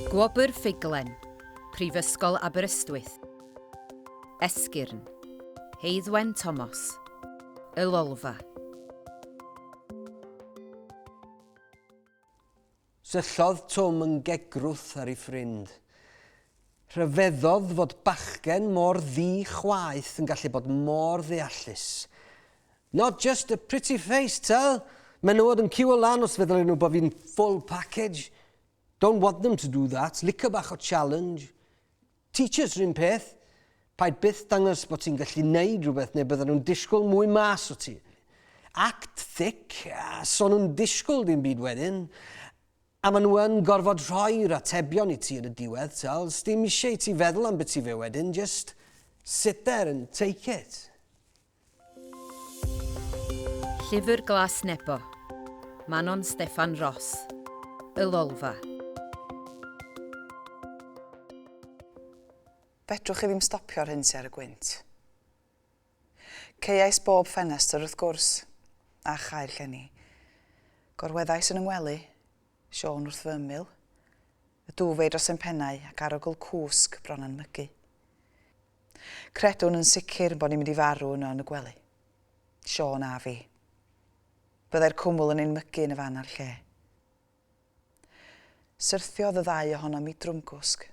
Gwobr Ffuglen, Prifysgol Aberystwyth. Esgyrn, Heiddwen Tomos. Y Lolfa. Syllodd Twm yn gegrwth ar ei ffrind. Rhyfeddodd fod bachgen mor ddu chwaeth yn gallu bod mor ddeallus. Not just a pretty face, tell! Menywod yn ciwio lan os feddylen nhw bod fi'n full package. Don't want them to do that, licio bach o challenge. Teachers r'un peth. Paid byth dangos bod ti'n gallu neud rhywbeth neu bydden nhw'n disgwyl mwy mas o ti. Act thick, a so nhw'n disgwyl dim byd wedyn. A ma nhw yn gorfod rhoi'r atebion i ti yn y diwedd, t'wel, sdim isie i ti feddwl ambyti fe wedyn, just sit there and take it. Llyfr Glas Nebo. Manon Steffan Ros. Y Lolfa. Fedrwch chi ddim stopio'r hyn sy ar y gwynt. Ceuais bob ffenestr wrth gwrs, a chael llenni. Gorweddais yn 'y ngwely, Siôn wrth fy ymyl, y dŵf ei dros ein pennau ac arogl cwsg bron a'n mygu. Credwn yn sicr bod ni'n mynd i farw yno yn y gwely. Siôn a fi. Byddai'r cwmwl yn ein mygu yn y fan a'r lle. Syrthiodd y ddau ohonom i drwmgwsg.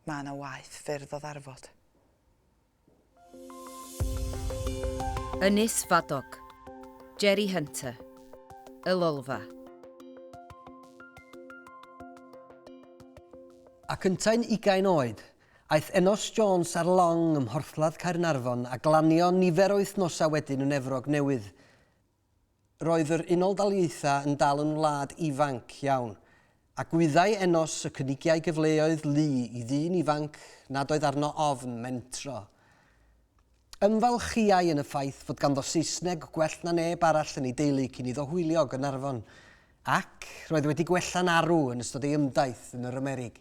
Mae yna waeth ffyrdd o ddarfod. Ynys Fadog. Jerry Hunter. Y Lolfa. Ac yntau'n ugain oed, aeth Enos Jones ar long ym Mhorthladd Caernarfon a glanio nifer o wythnosau wedyn yn Efrog Newydd. Roedd yr Unol Daleithiau yn dal yn wlad ifanc iawn, a gwyddai Enos y cynigiai gyfleoedd lu i ddyn ifanc nad oedd arno ofn mentro. Ymfalchïai yn y ffaith fod ganddo Saesneg gwell na neb arall yn ei deulu cyn iddo hwylio Gaernarfon, Ac roedd wedi gwella'n arw yn ystod ei ymdaith yn yr Amerig.